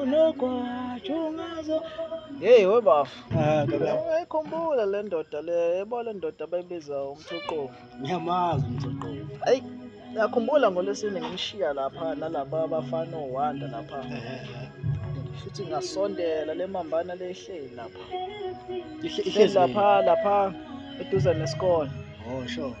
unogwaja ungazo yeyi we bafo ah, ayikhumbula le ndoda le yebo le ndoda abayibiza umthoqovu ngiyamazi umthoqovu ayi yakhumbula ngolwesine ngimshiya lapha nalaba bafana owanda lapha futhi ngasondela le mambana le ihleli lapha ihleli lapha lapha eduze nesikole oh sure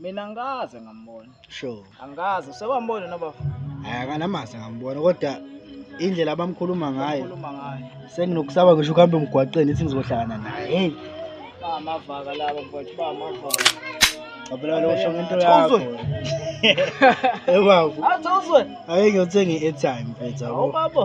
Mina ngikaze ngambona. Sure. Angikaze usewambona nobafo. Hayi akanamazi ngambona kodwa indlela abamkhuluma ngayo. Khuluma ngayo. Senginokusaba ngisho ukuhamba emgwaqeni ithi ngizohlangana naye. Hey. Ba amavaka laba mfowethu ba amavaka. Ngabela lo usho ngento yakho. Ebavu. Athi uzwe. Hayi ngiyothenga i-airtime mfethu. Awubabo.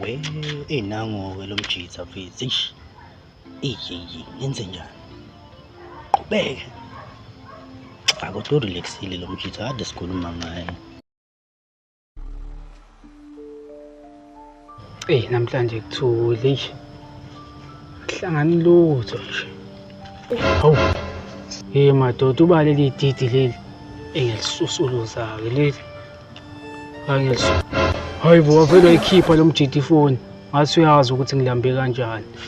we eyi nango-ke lo mjitha mfethu eish eyiyeyi ngenze njani qhubeke cha kodwa urelaxile lo mjitha kade sikhuluma ngaye eyi namhlanje kuthule nje kuhlangani lutho nje hawu hey madoda uba leli didi leli engilisusuluzake leli angilisusu hayi bo wavele wayikhipha lo mjidi ifoni ngathi uyazi ukuthi ngilambe kanjani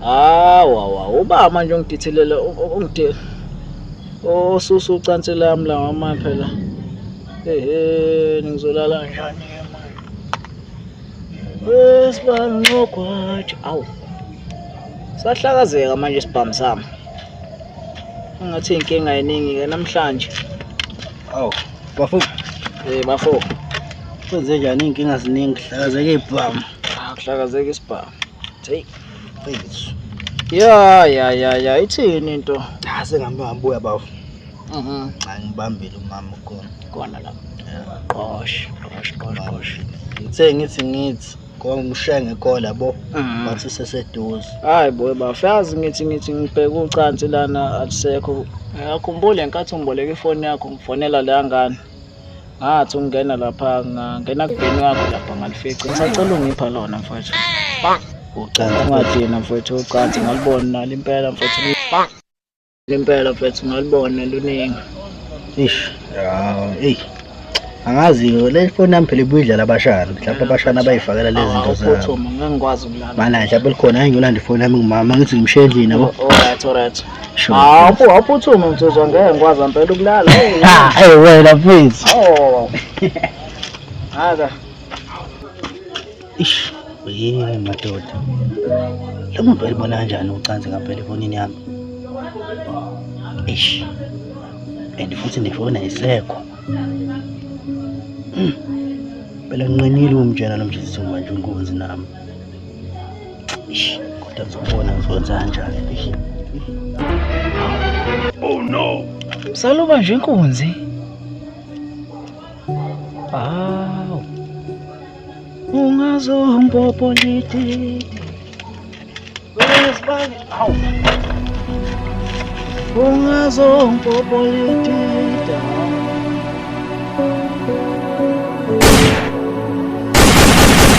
Hawa wa uba manje ungidithilela ungide osusa oh, ucansi lami la mama phela. Ehe ngizolala kanjani ke manje? Wesibani ngogwaja. Awu. Sahlakazeka manje isibhamu sami. Ngathi inkinga eningi ke namhlanje. Awu. Bafo. Eh bafo. Kwenze njani inkinga ziningi hlakazeke ibhamu. akuhlakazeka isibhamu hey please ya ya ya ya ithini into ah sengihamba ngibuya bafu mhm angibambile umama ukhona khona la qosh qosh qosh qosh ngithe ngithi ngithi kongishiya ngekola bo mhm. bathi seseduze hayi boy bafu yazi ngithi ngithi ngibheka ucansi lana alisekho ngiyakhumbula ngenkathi ungiboleka ifoni yakho ngifonela la ngane ngathi ungena lapha ngangena kubheni wakho lapha ngalifica ngisacela ungipha lona mfowethu ucansi ungadina mfowethu ucansi ngalibona nalo impela mfowethu impela mfowethu ngalibona luningi ish eyi angazi-ke le foni yami phela ibuyidlala abashana mhlawumpe abashana bayifakela lezi zinto zabo manje mhlawumpe likhona ayi ngiyolanda ifoni yami ngimama ngithi ngimshiye endlini yabo Hawu awuphuthuma nsizwa ngeke ngikwazi ngempela ukulala. Ha, hey wena mfethu. Oh. Haka. Ish, yini madoda. Lo muntu elibona kanjani ucansi ngempela efonini yami? Ish. And futhi nefona isekho. Hmm. Phela nginqinile umtshela lo mjezisi manje unkunzi nami. kodwa ngizobona ngizokwenza kanjani oh no msaluba nje inkunzi awu ungazompopoliti wesibani awu ungazompopoliti